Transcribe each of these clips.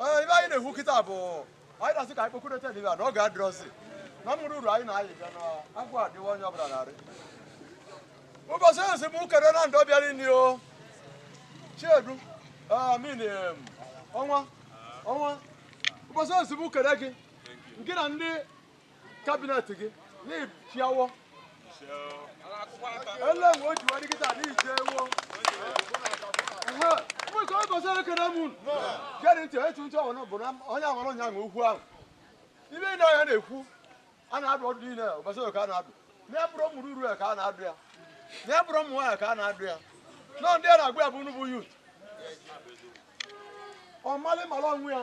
Ee, ibe anyị na-ekwu kịta bụ anyị na-asị ka anyị kpokọrịta n'ibe a na oge adịrọzi na ụmụ ruru anyị na-ayị bịa na agwa dịwa onye ọbụla narị ụbọchị ezi m kere na ndị bịara nụ o chiedu amin em, ọnwa ọnwa ụbọchị ezi m kere gị gị na ndị kabinet gị na-echiawo ele nwe o jiwa dịkịta n'ije ewo mụka ọ gọziri ekere m unu gere ntị etu ntị ọhụrụ bụ na onye aghọrọ nya nwe okwu ahụ ibe anyị na-ekwu a na-adụ ọdụ niile ụbọchị ka a na-adụ na ọ bụrọ ụmụ ruru ya ka a na-adụ ya na ọ bụrọ ụmụ nwaanyị ka a na-adụ ya na ndị a na-agwa ya bụ unu bụ yut ọ malị mara onwe ya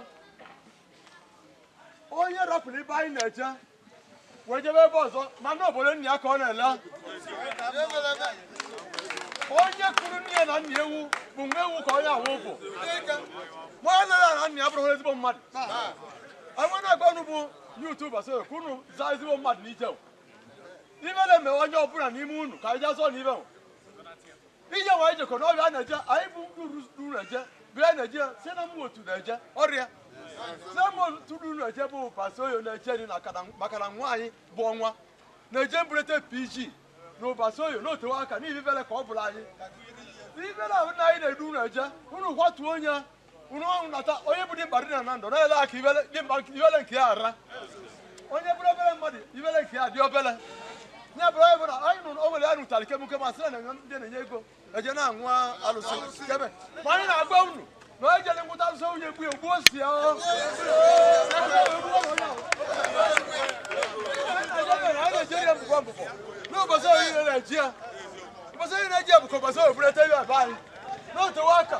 onye rapụrụ ibe anyị na-eje wee jebe ebe ọzọ ma na obodo nna ya ka ọ na-ele onye kụrụ nne ya na nna ewu bụ nwa ewu ka onye ahụ bụ ma nne ya na nna ya bụrụ ezigbo mmadụ onwe na-agwa unu bụ yut Ụbaso ka unu zaa ezigbo mmadụ n'ije ibe na-eme onye ọbụla n'ime unu ka anyị jezuo n'ibe ije wa ijekọ n'ọrịa a na-eje anyị bụ ndị uru uru na-eje bụ ya na-eje si na mmụọ otu na-eje ọrịa si na mmụọ otu uru na-eje bụ ụbasa oyo na-eje dị na kada- maka na nwa anyị bụ ọnwa na-eje mberede pg na ụbasa oyo na otewe aka n'ihi ibele ka ọ bụla anyị ibele ahụ na anyị na-edu unu eje unu kwatuo onye unu ọnwụ nata onye bụ dimkpa dị na na ndụ na-ele aka ibele dimkpa nke- ibele nke ya ara onye bụrụ obere mmadụ ibele nke ya dị obere ya bụrụ onye bụla anyị nụrụ o nwere ya nụtara kemụke ma sị na na-enye ndị na-enye ego eje na-aṅụ alụsị kebe ma anyị na-agwa unu na onye jere ngwụta alụsị nwunye egbu ya gbuo si ya ọ. Anyị na-ejere ya mbụbọ mbụbọ n'ụbọchị oyi na-eji ya ụbọchị oyi na-eji ya bụ ka ụbọchị oyi bụrụ ete ya ebe anyị n'otewe aka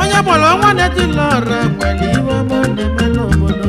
onye bụrụ ọnwa na-etili ọra nwere ibe ọma ọ na-eme n'obodo